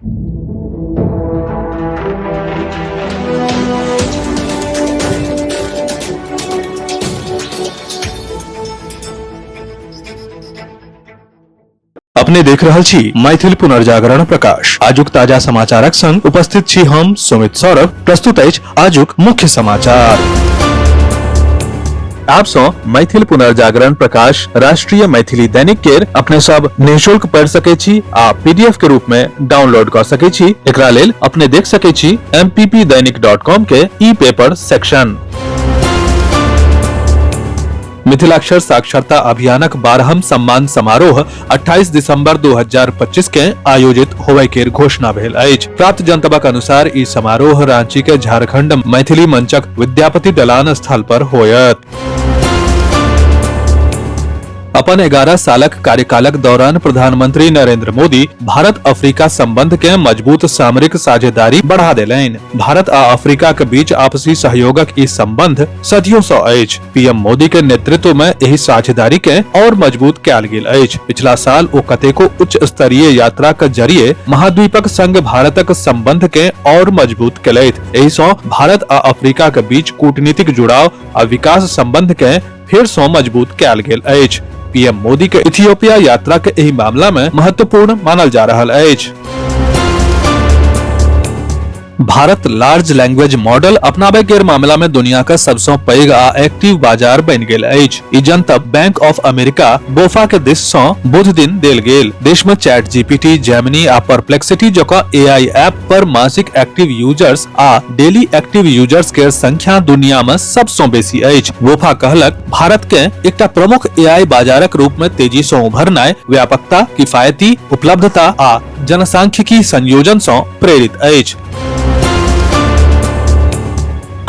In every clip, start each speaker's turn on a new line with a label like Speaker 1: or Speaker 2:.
Speaker 1: अपने देख रहल छी मैथिल पुनर्जागरण प्रकाश आजुक ताजा समाचारक संग उपस्थित छी हम सुमित सौरभ प्रस्तुत अछि आजुक मुख्य समाचार आप सो मैथिल पुनर्जागरण प्रकाश राष्ट्रीय मैथिली दैनिक केर अपने सब निशुल्क पढ़ सके छी आ पीडीएफ के रूप में डाउनलोड कर सके छी एकरा लेल अपने देख सके छी mppdainik.com के ई पेपर सेक्शन मिथिलाक्षर साक्षरता अभियानक बारहम सम्मान समारोह 28 दिसंबर 2025 के आयोजित होवे के घोषणा भेल अछि प्राप्त जनतबक अनुसार ई समारोह रांची के झारखंड मैथिली मंचक विद्यापति दलान स्थल पर होयत अपन 11 सालक कार्यकालक दौरान प्रधानमंत्री नरेंद्र मोदी भारत अफ्रीका संबंध के मजबूत सामरिक साझेदारी बढ़ा देलनि भारत आ अफ्रीका के बीच आपसी सहयोगक ई संबंध सदियों से अछि पीएम मोदी के नेतृत्व में यही साझेदारी के और मजबूत कयल गेल अछि पिछला साल ओ कतेको उच्च स्तरीय यात्रा के जरिए महाद्वीपक संग भारतक संबंध के और मजबूत कयलथि एहि सं भारत आ अफ्रीका के बीच कूटनीतिक जुड़ाव आ विकास संबंध के फेर सं मजबूत कयल गेल अछि पीएम मोदी के इथियोपिया यात्रा के एहि मामला में महत्वपूर्ण मानल जा रहल अछि भारत लार्ज लैंग्वेज मॉडल अपनाबे के मामला में दुनिया का सबसे पैघ आ एक्टिव बाजार बन गेल अछि ई जनतब बैंक ऑफ अमेरिका बोफा के दिस से बुध दिन देल गेल देश में चैट जीपीटी जेमिनी आ परप्लेक्सिटी जका एआई ऐप पर मासिक एक्टिव यूजर्स आ डेली एक्टिव यूजर्स के संख्या दुनिया में सबसे बेसी अछि बोफा कहलक भारत के एकटा प्रमुख एआई बाजारक रूप में तेजी से उभरनाय व्यापकता किफायती उपलब्धता आ जनसांख्यिकी संयोजन सं प्रेरित अछि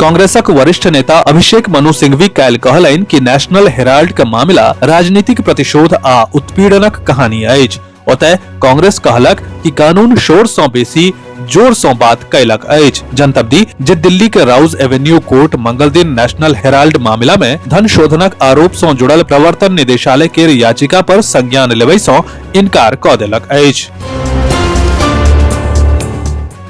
Speaker 1: कांग्रेसक वरिष्ठ नेता अभिषेक मनु सिंघवी काल्हि कहलनि कि नेशनल हेराल्ड के मामिला राजनीतिक प्रतिशोध आ उत्पीड़नक कहानी अछि ओतय कांग्रेस कहलक कि कानून शोर सं बेसी जोर सं बात कयलक अछि जनतब दी जे दिल्ली के राउज एवेन्यू कोर्ट मंगल दिन नेशनल हेराल्ड मामिला में धन शोधनक आरोप सं जुड़ल प्रवर्तन निदेशालय के याचिका पर संज्ञान लेबय सं इनकार क देलक अछि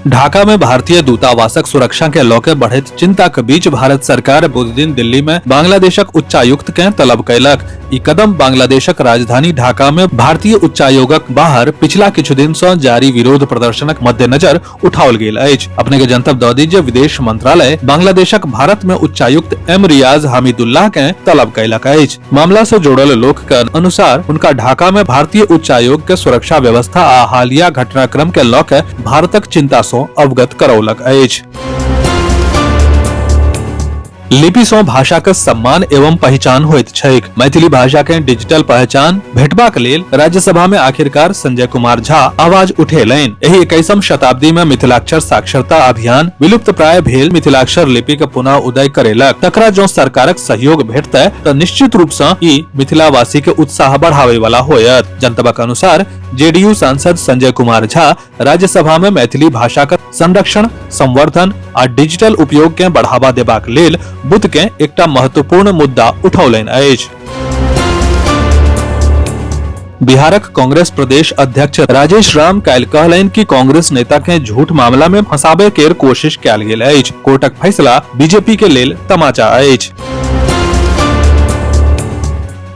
Speaker 1: ढाका में भारतीय दूतावासक सुरक्षा के लऽ के बढ़ैत चिंताक बीच भारत सरकार बुध दिन दिल्ली में बांग्लादेशक उच्चायुक्त के तलब कयलक ई कदम बांग्लादेशक राजधानी ढाका में भारतीय उच्चायोगक बाहर पिछला किछु दिन सँ जारी विरोध प्रदर्शनक मद्देनजर उठाओल गेल अछि अपने के जनतब दऽ दी जे विदेश मंत्रालय बांग्लादेशक भारत में उच्चायुक्त एम रियाज हामिदुल्लाह के तलब कयलक अछि मामला से जुड़ल लोक के अनुसार उनका ढाका में भारतीय उच्चायोग के सुरक्षा व्यवस्था आ हालिया घटनाक्रम के लऽ के भारतक चिंता से अवगत करौलक अछि लिपि सँ भाषा के सम्मान एवं पहचान होइत छैक मैथिली भाषा के डिजिटल पहचान भेटबाक लेल राज्यसभा में आखिरकार संजय कुमार झा आवाज उठेलनि एहि इक्कीसम शताब्दी में मिथिलाक्षर साक्षरता अभियान विलुप्त प्राय भेल मिथिलाक्षर लिपि के पुनः उदय करेलक तकरा जो सरकारक सहयोग भेटतै तऽ निश्चित रूप सँ ई मिथिलावासी के उत्साह बढ़ावे वाला होयत जनतबक अनुसार जेडीयू सांसद संजय कुमार झा राज्यसभा में मैथिली भाषा के संरक्षण संवर्धन आ डिजिटल उपयोग के बढ़ावा देबाक लेल बुध के एकटा महत्वपूर्ण मुद्दा उठौलनि अछि बिहारक कांग्रेस प्रदेश अध्यक्ष राजेश राम काल्हि कहलनि कि कांग्रेस नेता के झूठ मामला में फंसाबे के कोशिश कयल गेल अछि कोर्टक फैसला बीजेपी के लेल तमाचा अछि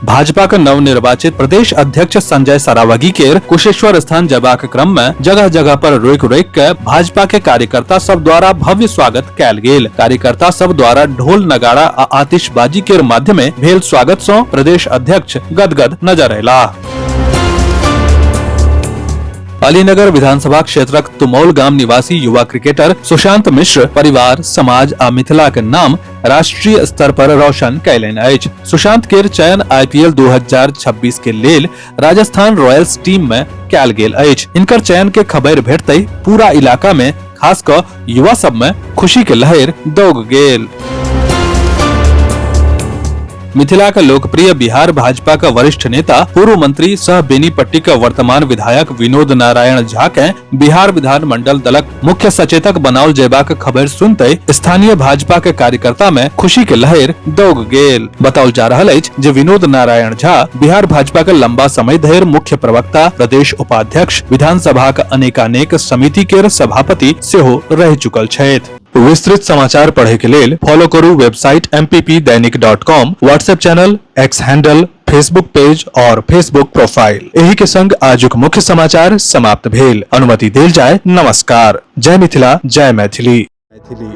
Speaker 1: भाजपा के नव निर्वाचित प्रदेश अध्यक्ष संजय सरावगी के कुशेश्वर स्थान जयबाक क्रम में जगह जगह पर रोक रोक के भाजपा के कार्यकर्ता सब द्वारा भव्य स्वागत कैल गेल कार्यकर्ता सब द्वारा ढोल नगाड़ा आ आतिशबाजी के माध्यमे भेल स्वागत सो प्रदेश अध्यक्ष गदगद नजर अयला अलीनगर विधानसभा क्षेत्रक तुमौल गाम निवासी युवा क्रिकेटर सुशांत मिश्र परिवार समाज आ मिथिलाक नाम राष्ट्रीय स्तर पर रोशन कैलन अछि सुशांत के चयन आईपीएल 2026 के लेल राजस्थान रॉयल्स टीम में कैल गेल अछि इनकर चयन के खबर भेटते पूरा इलाका में खास क युवा सब में खुशी के लहर दौग गेल मिथिला का लोकप्रिय बिहार भाजपा का वरिष्ठ नेता पूर्व मंत्री सह बेनीपट्टी का वर्तमान विधायक विनोद नारायण झा के बिहार विधान मंडल दलक मुख्य सचेतक बनाओल जयबाक खबर सुनते स्थानीय भाजपा के कार्यकर्ता में खुशी के लहर दौग गेल बताओल जा रहल अछि जे विनोद नारायण झा बिहार भाजपा के लंबा समय धरि मुख्य प्रवक्ता प्रदेश उपाध्यक्ष विधानसभा के अनेकानेक समिति के सभापति सेहो रह चुकल छथि विस्तृत समाचार पढ़े के लेल फॉलो करू website M Dainik dot com WhatsApp channel X handle Facebook page और फेसबुक प्रोफाइल एही के संग आजुक मुख्य समाचार समाप्त भेल अनुमति देल जाय नमस्कार जय मिथिला जय मैथिली मैथिली